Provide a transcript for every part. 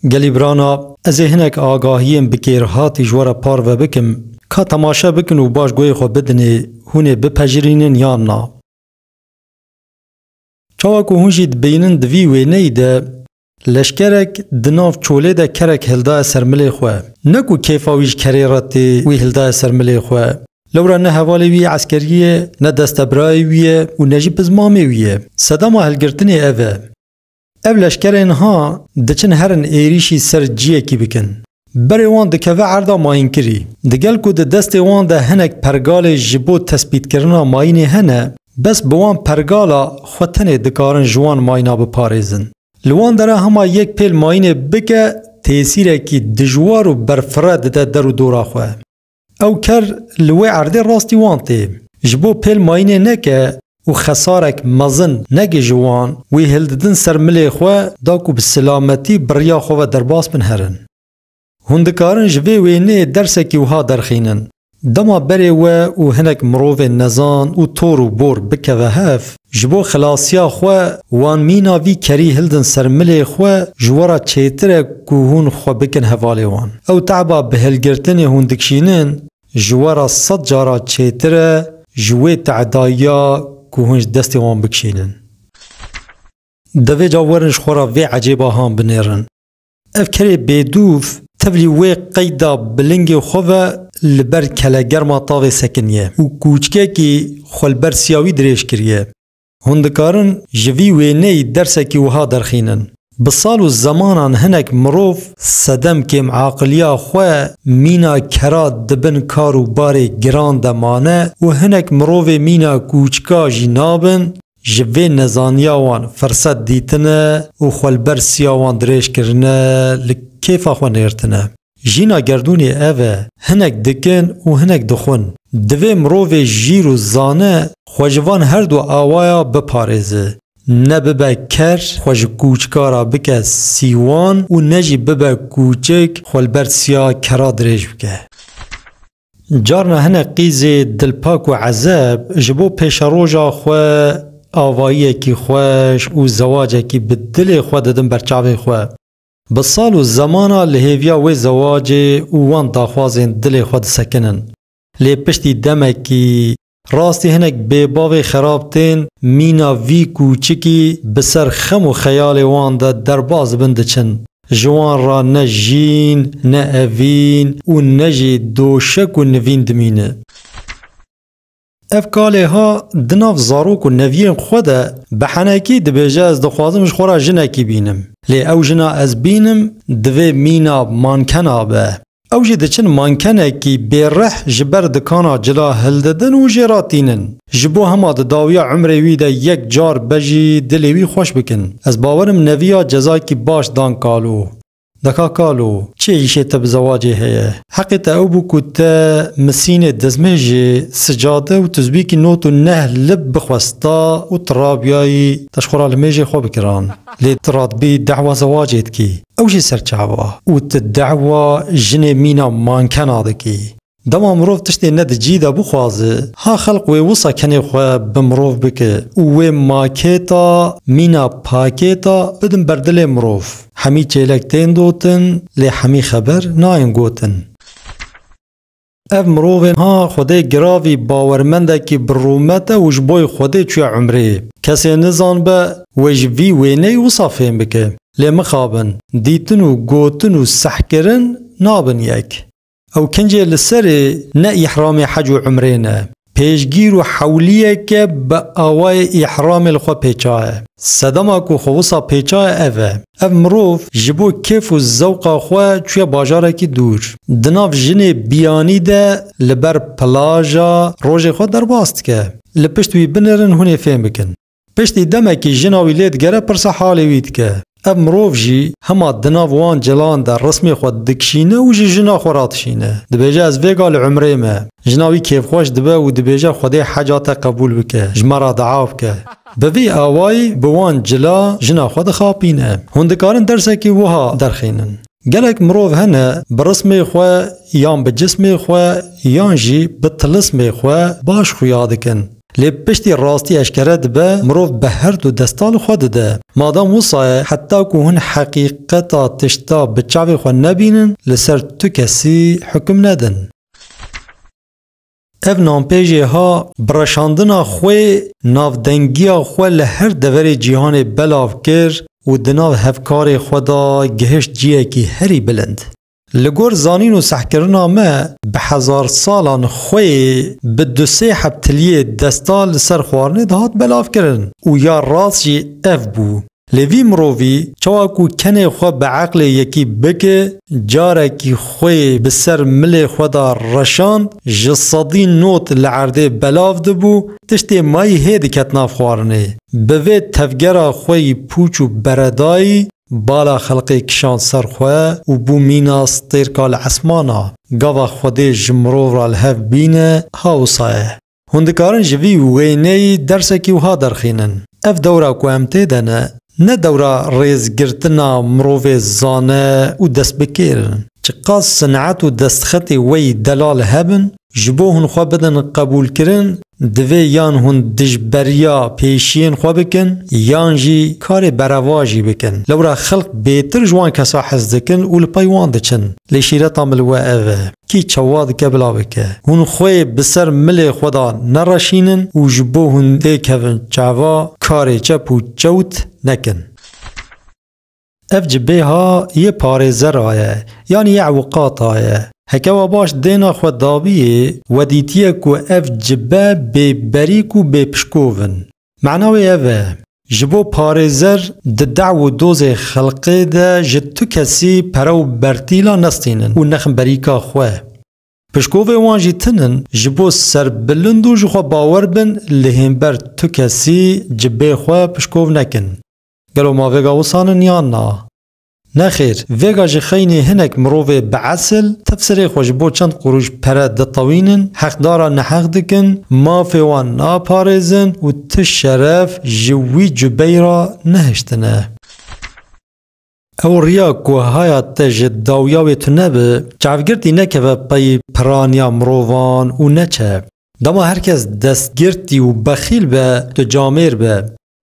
Gelîbrana, Ez ê hinek agahiyên bi kêrhatî ji we re parve bikim. Ka temaşe bikin û baş guhê xwe bidinê, hûn ê bipejirînin yan na. Çawa ku hûn jî dibînin di vî wêneyî de leşkerek di nav çolê de kerek hildaye ser milê xwe. Ne ku kêfa wî ji kerê re tê, wî hildaye ser milê xwe. Lewra ne hevalê wî eskerî ye, ne destebrayê wî ye û ne jî piz mamê wî ye. Sedama hilgirtinê ev e. Ev leşkerê niha diçin herin êrîşî ser ciyekî bikin. Berê wan dikeve erda mayînkirî. Digel ku di destê wan de hinek pergalê ji bo tespîtkirina mayînê hene, bes bi wan pergala xwe tenê dikarin ji wan mayîna biparêzin. Li wan dere hema yek pêl mayînê bike têsîrekî dijwar û berfireh dide der û dora xwe. Ew ker li wê erdê rastî wan tê. Ji bo pêl mayînê neke û xesarek mezin nege ji wan, wî hildidin ser milê xwe da ku bi silametî bi riya xwe ve derbas bin herin. Hûn dikarin ji vê wêneyê dersekî wiha derxînin, Dema berê we û hinek mirovên nezan û tor û bor bikeve hev, Ji bo xilasiya xwe, wan mîna vî kerî hildin ser milê xwe, ji we re çêtir e ku hûn xwe bikin hevalê wan. Ew teba bi hilgirtinê hûn dikişînin, ji we re sed cara çêtir e ji wê tedayiya ku hûn ji destê wan bikişînin. Devê ca werin ji xwe re vê ecêba han binêrin. Ev kerê bêdûv tevlî wê qeyda bilingê xwe ve li ber kelegerma tavê sekiniye û kûçkekî xwe li ber siyawî dirêj kiriye. Hûn dikarin ji vî wêneyî dersekî wiha derxînin, Bi sal û zemanan hinek mirov sedem kêm aqiliya xwe mîna kera di bin kar û barê giran de mane û hinek mirovê mîna kûçka jî nabin, Ji vê nezaniya wan firset dîtine û xwe li ber siya wan dirêj kirine li kêfa xwe nêrtine. Jîna gerdûnê ev e, hinek dikin û hinek dixwin. Divê mirovê jîr û zane xwe ji van her du awaya biparêze. Ne bibe ker xwe ji kûçika re bike sîwan û ne jî bibe kûçik xwe li ber siya kera dirêj bike. Carna hinek qîzê dilpak û ezeb ji bo pêşeroja xwe avayiyekî xweş û zewacekî bi dilê xwe didin ber çavê xwe. Bi sal û zemana li hêviya wê zewacê û wan daxwazên dilê xwe disekinin. Lê piştî demekî Rastî hinek bêbavê xerab tên, mîna vî kûçikî bi ser xem û xeyalê wan de derbas dibin diçin. Ji wan re ne jîn, ne evîn û ne jî doşek û nivîn dimîne. Ev ka lê ha di nav zarok û neviyên xwe de bi henekî dibêje ez dixwazim ji xwe re jinekî bînim. Lê ew jina ez bînim divê mîna mankena be. Ew jî diçin mankenekî bêrih ji ber dikana cila hildidin û jê re tînin. Ji bo hema di dawiya umrê wî de yek car be jî dilê wî xweş bikin. Ez bawer im neviya cezayekî baş dan Kalo. Deka Kalo, çi îşê te bi zewacê heye? Heqê te ew bû ku te misînê dizmêjê, sicade û tuzbîkî not û neh lib bixwesta û tu rabiyayî te ji xwe re li mêjê xwe bikiran. Lê tu radibî dehwa zewacê dikî. Ew jî serçava û tu dewa jinê mîna mankena dikî. Dema mirov tiştê ne di cî de bixwaze, ha xelq wê wisa kenê xwe bi mirov bike û wê makêta mîna pakêta bidin ber dilê mirov. Hemî çêlek tên dotin lê hemî xeber nayên gotin. Ev mirovên ha xwedê giravî bawermendekî bi rûmet e û ji boî xwedê çûye umrê. Kesê nizan be wê ji vî wêneyî wisa fêm bike. Lê mixabin, dîtin û gotin û sehkirin nabin yek. Ew kincê li serê ne îhramê hec û umrê ne. Pêşgîr û hewliyeke bi awayê îhramê li xwe pêçaye. Sedema ku xwe wisa pêçaye ev e. Ev mirov ji bo kêf û zewqa xwe çûye bajarekî dûr. Di nav jinê biyanî de li ber plaja rojê xwe derbas dike. Li pişt wî binirin hûn ê fêm bikin. Piştî demekî jina wî lê digere pirsa halê wî dike. Ev mirov jî hema di nav wan cilan de rismê xwe dikişîne û ji jina xwe radişîne. Dibêje ez vêga li umrê me. Jina wî kêfxweş dibe û dibêje Xwedê heca te qebûl bike, ji me re dua bike. Bi vî awayî bi wan cila jina xwe dixapîne. Hûn dikarin dersekî wiha derxînin. Gelek mirov hene bi rismê xwe yan bi cismê xwe yan jî bi tilismê xwe baş xuya dikin. Lê piştî rastî eşkere dibe, mirov bi her du desta li xwe dide. Madam wisa ye, heta ku hûn heqîqeta tişta bi çavê xwe nebînin, li ser tu kesî hukum nedin. Ev nampê jê ha, bi reşandina xwe navdengiya xwe li her deverê cîhanê belav kir û di nav hevkarê xwe de gihişt ciyekî herî bilind. Li gor zanîn û sehkirina me bi hezar salan xwe yê bi du sê heptiliyê desta li ser xwarinê dihat belavkirin û ya rast jî ev bû. Lê vî mirovî çawa ku kenê xwe bi eqlê yekî bike carekî xwe yê bi ser milê xwe de reşand ji sedî not li erdê belav dibû tiştê mayî hê diket nav xwarinê. Bi vê tevgera xwe yî pûç û beredayî Bala xelqê kişand ser xwe û bû mîna stêrka li esmana. Gava Xwedê ji mirov re li hev bîne, ha wisa ye. Hûn dikarin ji vî wêneyî dersekî wiha derxînin, Ev dewra ku em tê de ne, ne dewra rêzgirtina mirovê zane û destbikêr in. Çiqas sinet û destxetê wê yî delal hebin, Ji bo hûn xwe bidin qebûlkirin, divê yan hûn dijberiya pêşiyên xwe bikin yan jî karê berevajî bikin. Lewra xelk bêtir ji wan kesa hez dikin û li pey wan diçin. Lê şîreta min li we ev e, kî çawa dike bila bike. Hûn xwê bi ser milê xwe de nereşînin û ji bo hûn têkevin çava karê çep û çewt nekin. Ev ci bêha yê parêzera ye yanî yê ewqata ye. Heke we baş dêna xwe dabiyê, we dîtiye ku ev ci be bê berîk û bê pişkov in. Mana wê ev e, ji bo parêzer di dew û dozê xelqê de ji tu kesî pere û bertîla nestînin û nexin berîka xwe. Pişkovê wan jî tin in, ji bo serbilind û ji xwe bawer bin li hênber tu kesî ci bê xwe pişkov nekin. Gelo ma vêga wisan in yan na? Nexêr, vêga ji xeynê hinek mirovê bi esil, tefsirê xwe ji bo çend qurûş pere ditewînin, heqdara neheq dikin, mafê wan naparêzin û ti şeref ji wî cubeyî re nehiştine. Ew riya ku haya te ji dawiya wê tune bi, çavgirtî nekeve pey piraniya mirovan û neçe. Dema her kes destgirtî û bexîl be, tu camêr be.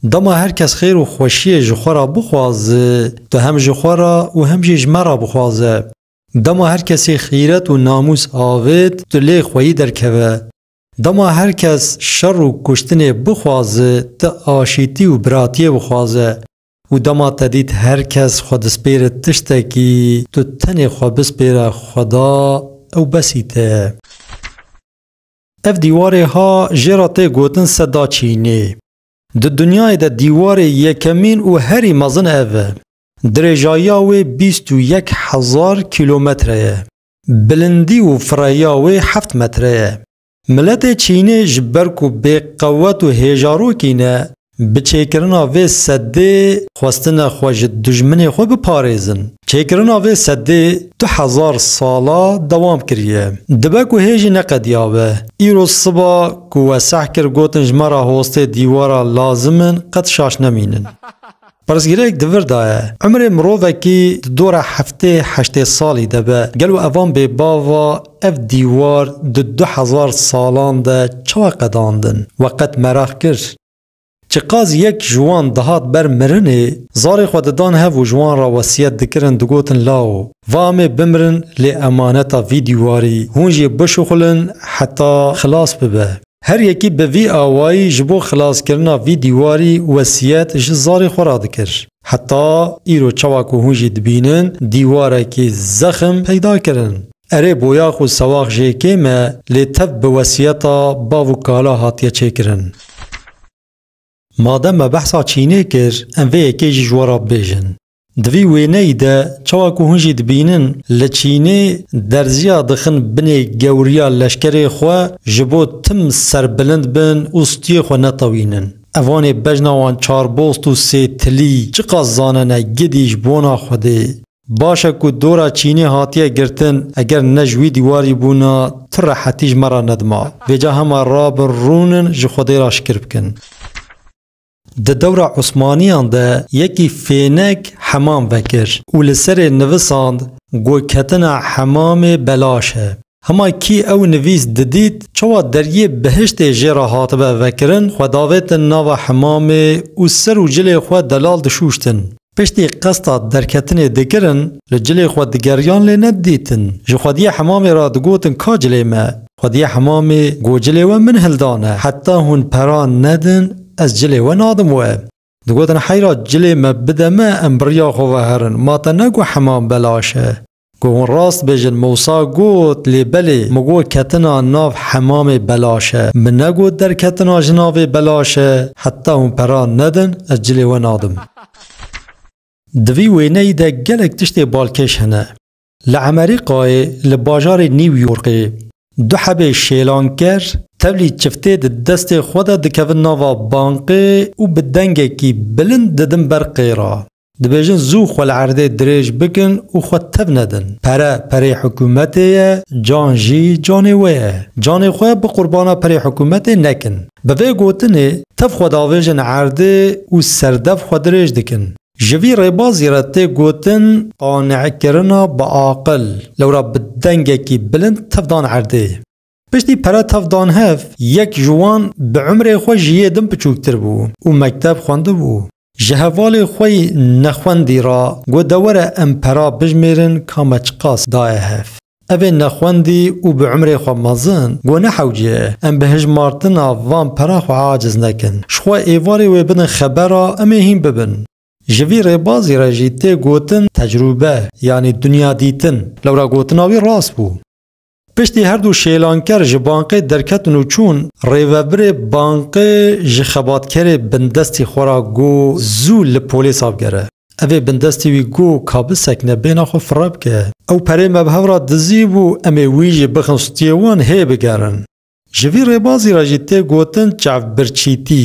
Dema her kes xêr û xweşiyê ji xwe ra bixwaze, tu hem ji xwe ra û hem jî ji me ra bixwaze. Dema her kesî xîret û namûs avêt, tu lê xweyî derkeve. Dema her kes şer û kuştinê bixwaze, tu aşîtî û biratiyê bixwaze. Û dema te dît her kes xwe dispêre tiştekî, tu tenê xwe bispêre Xweda, ew besî te ye. Ev dîwarê ha jê re tê gotin Seda Çînî. Di dinyayê de dîwarê yekemîn û herî mezin ev e. Dirêjayiya wê bîst û yek hezar kîlometre ye. Bilindî û firehiya wê heft metre ye. Miletê Çînê ji ber ku bêqewet û hêjarokî ne, Bi çêkirina vê sedê xwestine xwe ji dijminê xwe biparêzin. Çêkirina vê sedê du hezar sala dewam kiriye. Dibe ku hê jî neqediyabe. Îro siba ku weseh kir gotin ji me re hostê dîwara lazim in qet şaş nemînin. Pirsgirêk di vir de ye, Umrê mirovekî di dora heftê heştê salî de be, gelo evan bê bava ev dîwar di du hezar salan de çawa qedandin? We qet meraq kir? Çi qas yek ji wan dihat ber mirinê, zarê xwe didan hev û ji wan re wesiyet dikirin digotin Lao, va em ê bimirin lê emaneta vî dîwarî hûn jê bişuxulin heta xilas bibe. Her yekî bi vî awayî ji bo xilaskirina vî dîwarî wesiyet ji zarê xwe re dikir. Heta îro çawa ku hûn jî dibînin dîwarekî zexm peyda kirin. Erê boyax û sewax jê kêm e lê tev bi wesiyeta bav û kala hatiye çêkirin. Madem me behsa Çînê kir, em vê yekê jî ji we re bibêjin. Di vî wêneyî de çawa ku hûn jî dibînin li Çînê derziya dixin binê gewriya leşkerê xwe ji bo tim serbilind bin û stûyê xwe netewînin. Evanê bejna wan çarbost û sêtilî çiqas zanene gidî ji bona Xwedê. Baş e ku dora çînê hatiye girtin, eger ne ji wî dîwarî bûna, tu rehetî ji me re nedima. Vêca hema rabin rûnin ji Xwedê re şikir bikin. Di dewra Osmaniyan de yekî fênek hemam vekir û li serê nivisand, Goyketina hemamê belaş e. Hema kî ew nivîs didît, çawa deriyê bihiştê jê re hatibe vekirin, xwe davêtin nava hemamê û ser û cilê xwe delal dişûştin. Piştî qesta derketinê dikirin, li cilê xwe digeriyan lê nedidîtin. Ji xwediyê hemamê re digotin ka cilê me. Xwediyê hemamê got cilê we min hildane. Heta hûn pera nedin ez cilê we nadim we. Digotin heyra cilê me bide me em bi riya xwe ve herin. Ma te negot hemam belaş e. Ku hûn rast bêjin Mûsa got, lê belê min got ketina nav hemamê belaş e. Min negot derketina ji navê belaş e. Heta hûn pera nedin ez cilê we nadim. Di vî wêneyî de gelek tiştê balkêş hene. Li Emerîkayê li bajarê New Yorkê du hebê şêlanker tevlî çiftê di destê xwe de dikevin nava banqê û bi dengekî bilind didin ber qêra. Dibêjin zû xwe li erdê dirêj bikin û xwe tev nedin. Pere, perê hikûmetê ye, can jî canê wê ye. Canê xwe bi qurbana perê hikûmetê nekin. Bi vê gotinê tev xwe davêjin erdê û serdev xwe dirêj dikin. Ji vî rêbazî re tê gotin qane'kirina biaqil. Lewra bi dengekî bilind tev dan erdê. Piştî pere tev dan hev, yek ji wan bi umrê xwe ji yê din piçûktir bû û mekteb xwendibû. Ji hevalê xwe yî nexwendî ra got de were em pera bijmêrin ka me çiqas daye hev. Evê nexwendî û bi umrê xwe mezin got nehewce em bi hijmartina van pera xwe aciz nekin. Ji xwe êvarê wê bidin xebera em ê hîn bibin. Ji vî rêbazî re jî tê gotin tecrûbe yanî dunya dîtin. Lewra gotina wî rast bû. Piştî her du şêlanker ji banqê derketin û çûn, rêvebirê banqê ji xebatkerê bindestî xwe ra got zû li polêsa bigere. Evê bindestî wî got ka bisekine bêhna xwe firre bike. Ew perê me bi hev ra dizî bû, em ê wî jî bixin stûyê wan hê bigerin. Ji vî rêbazî re jî tê gotin çavbirçîtî.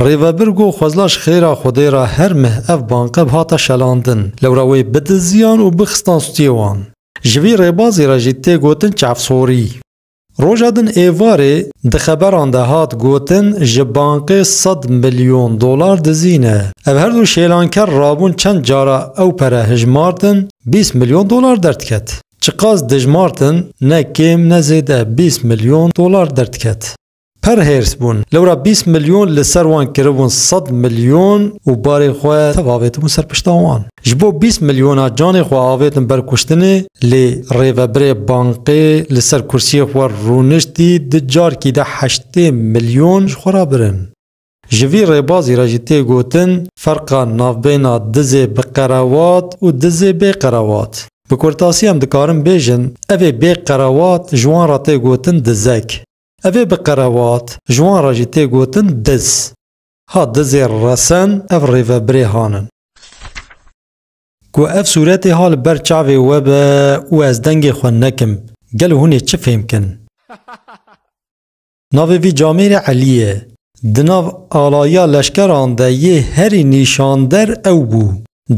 Rêvebir got xwezla ji xêra Xwedê re her meh ev banqeb hate şelandin, lewra wê bidiziyan û bixistan stûyê wan. Ji vî rêbazê re jî tê gotin çavsorî. Roja din êvarê di xeberan de hat gotin ji banqê sed milyon dolar dizî ne. Ev her du şêlanker rabûn çend cara ew pere hijmartin bîst milyon dolar derdket. Çiqas dijmartin ne kêm ne zêde bîst milyon dolar derdket. Pir hêrs bûn. Lewra bîst milyon li ser wan kiribûn sed milyon û barê xwe tev avêtibû ser pişta wan. Ji bo bîst milyona canê xwe avêtin ber kuştinê lê rêvebirê banqê li ser kursiyê xwe rûniştî di carkî de heştê milyon ji xwe ra birin. Ji vî rêbazî re jî tê gotin ferqa navbêyna dizê bi qerewat û dizê bê qerewat. Bi kurtasî em dikarin bêjin evê bê qerewat ji wan ra tê gotin dizek. Ev ê bi qerevat, ji wan re jî tê gotin diz. Ha dizê resen ev rêvebirê han in. Ku ev sûretê ha li ber çavê we be û ez dengê xwe nekim, gelo hûn ê çi fêm kin? Navê vî camêrê Elî ye. Di nav alayiya leşkeran de yê herî nîşander ew bû.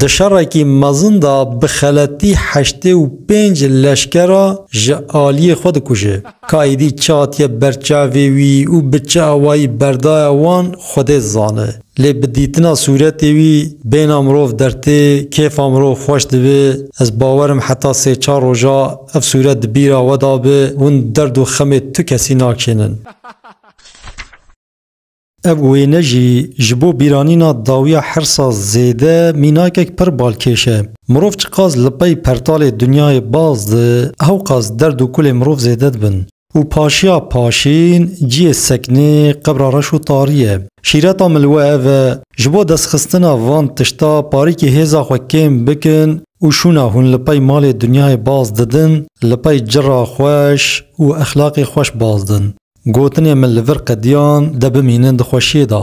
Di şerekî mezin de bi xeletî heştê û pênc leşkera ji aliyê xwe dikuje. Ka êdî çi hatiye ber çavê wî û bi çi awayî berdaya wan Xwedê dizane. Lê bi dîtina sûretê wî bêhna mirov dertê, kêfa mirov xweş dibe. Ez bawer im heta sê çar roja ev sûret di bîra we de be, hûn derd û xemê tu kesî nakişênin. Ev wêne jî ji bo bîranîna dawiya hirsa zêde mînakek pir balkêş e. Mirov çiqas li pey pertalê dinyayê baz di, hewqas derd û kulê mirov zêde dibin. Û paşiya paşîn ciyê seknê qebra reş û tarî ye. Şîreta min li we ev e, ji bo destxistina van tişta parîkê hêza xwe kêm bikin û şûna hûn li pey malê dinyayê baz didin, li pey cira xweş û exlaqê xweş baz din. Gotinê min li vir qediyan de bimînin di xweşiyê de.